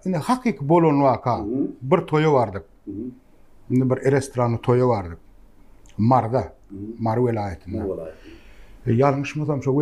Indi hakyky bolan waka, bir toýa bardyk. Indi bir restoranly toýa bardyk. Maryda, Mary welaýatynda. Ýalňyşmasam şo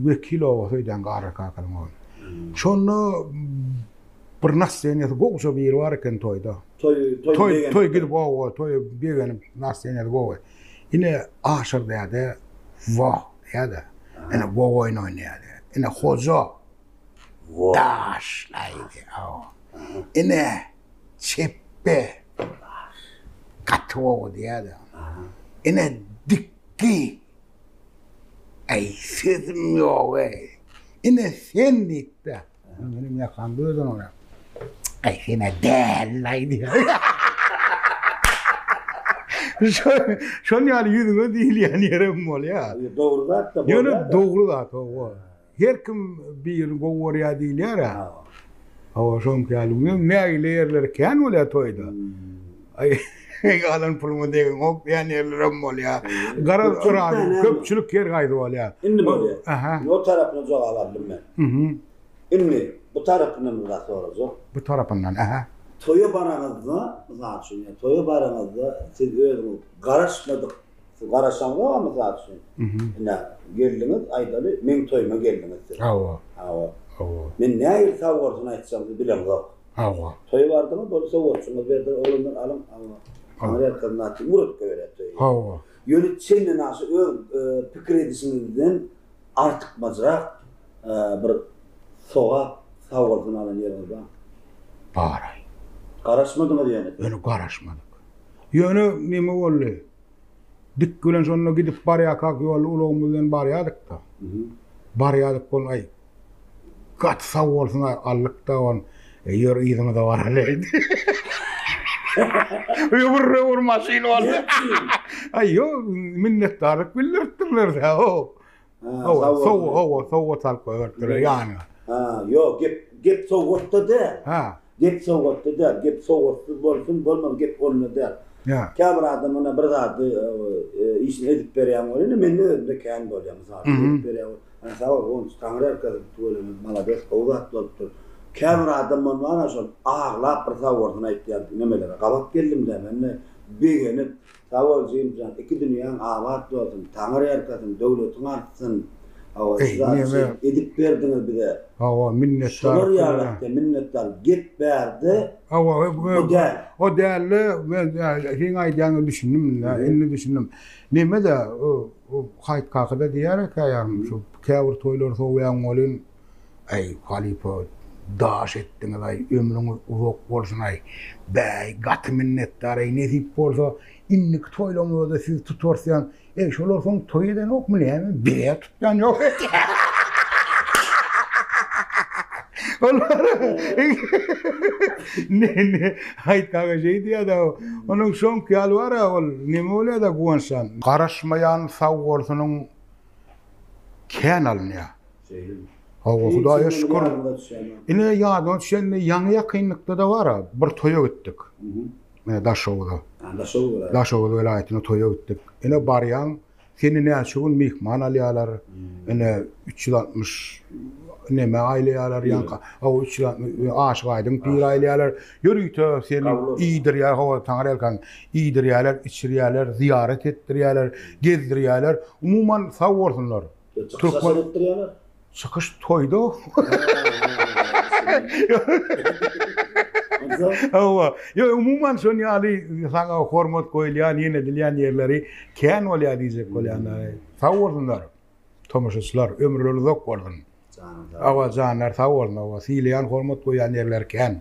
Wekil oba söýdän garry kakalaň ogly. Şonda bir nasdeniýesi gowja biri bar eken toýda. Toý gidip oba toýa begenip nasdeniýesi gowy. Ine aşyr däde wah däde. Ine gowy oýun oýnaýar. Ine hoja. Daşlaýdy aw. Ine, çepbe gaty gowy diýýärdi. Ine, dikgi. Äý, sözüm ýog-eý. Ine, sen diýip-de, ine, meniň ýakam gözden olar. Äý, sen-ä däl-laý diýýär. Şol ýaly ýüzüňe diýilýän ýerem bolýar. Dogry zat-da bolýar. Ýöne dogry zat, hawa. Her kim birini gowy görýär diýilýär-ä. Hawa, şoňki ýaly günüm nägile ýerleri kän bolýar toýda. Aý, alan puluňa degiňok diýen ýerlerem bolýar. Garaz, yrady, köpçülik her haýsy bolýar. Indi bolýar. Aha. Indi o tarapyna jogap aldym men. Mhm. Indi bu tarapyndan bir zat sorajak. Bu tarapyndan, aha. Toýa baraňyzda, mysal üçin, toýa baraňyzda siz özüňiz garaşmadyk Siz garaşaňyzam mysal üçin, ine, geldiňiz, aýdaly, meň toýuma geldiňiz siz. Hawa. Hawa. Hawa. Men nähili sowgatjyny aýtjagyňyzy bilemzok. Hawa. Toýa bardyňyz, boldy, sowgatjyňyzy berdiler, oglanlar alyň, hawa. Konwertleri naçe murtga berýär toýa. Hawa. Ýöne çenli naçe öz pikir edişiňizden artykmajrak bir sogap, sowgatjyny alan ýeriňiz barmy? Bar-aý. Garaşmadyňyz ýöne. Ýöne garaşmadyk. Ýöne neme boldy? Dik bilen şonda gidip barýarkak ýolda ulagymyz bilen barýardyk-da. Barýardyk bol, aý, gaty sag bolsun-aý, aldyk-da ony. E, ýör, yzyňyza baraly. Öwür-öwür maşyn boldy. Aý, ýok, minnetdarlyk bildiripdirler-dä-ow. Hawa, sowgat, hawa, sowgat alyp goýberipdirler ýanyna. Ha, ýok, gep, gep sowgatda däl. Ha. Gep sowgatda däl, gep sowgatsyz bolsun, bolmaz, gep onda däl. Ýa. Käbir adam ýene bir zady işini edip berýän bolýar, indi mende özümde kän bolýar, mysal üçin, edip berýän, ha, sag bol, goňşy, Taňry erkazip tüweleme, malades, gowy zat bolupdyr. Käbir adam bolsa bar, şol aglap bir sag bolsun aýtýan nemelere gabat geldim-dä men-de, begenip, Sag bol Jimjan iki dünýäň abat bolsun Taňyr erkasin döwletiň artsyn Hawa şu zady şu edip berdiňiz bize Hawa minnetdar şolar ýalakda minnetdar gep bärde Hawa bu däl o dälde men seň aýdýanyňa düşündim indi indi düşündim nemede o haýt kakyda diýýärä käýarym şu käbir toýlary sowýaň welin Äý halypa daş etdiňizaý ömrüňiz uzak bolsunaý bäý gaty minnetdar äý nesip bolsa indiki toýlaňyzda siz tutarsyam äý şolar soň toý edenokmy näme bizä tutýanýok olara ne ne haýt aga şeý diýäda onuň soňky ýaly bara ol neme bolýada guwançdan garaşmaýan sag bolsunyň kän alynýa Şeýdimi? Hawa, Hudaýa şükür. Ine ýadyma düşende ýaňy ýakynlykda-da bar-a, bir toýa gitdik. Ine Daşoguza. Daşoguz welaýatyna toýa gitdik. Ine barýaň, seni näçe gün myhman alýarlar. Ine üç ýüz altmyş neme aýlaýarlar ýaňka. Hawa, üç ýüz altmyş Aşyk Aýdyň pir aýlaýarlar. Ýörite seni iýdirýär, hawa, Taňry ýalkan, iýdirýärler, içirýärler, zyýarat etdirýärler, gezdirýärler. Umuman, sag bolsunlar. Türkmen etdir ýana. Çykyş toýda. Hawa. Ýa umuman şon ýaly saňa hormat goýulýan, ýene edilýän ýerleri kän bolýar diýjek bolýan. Sag bolsunlar. Tomaşaçylar ömürleri uzak bolsun. Hawa janlar sag bolsun. Hawa sileýän hormat goýýan ýerleri kän.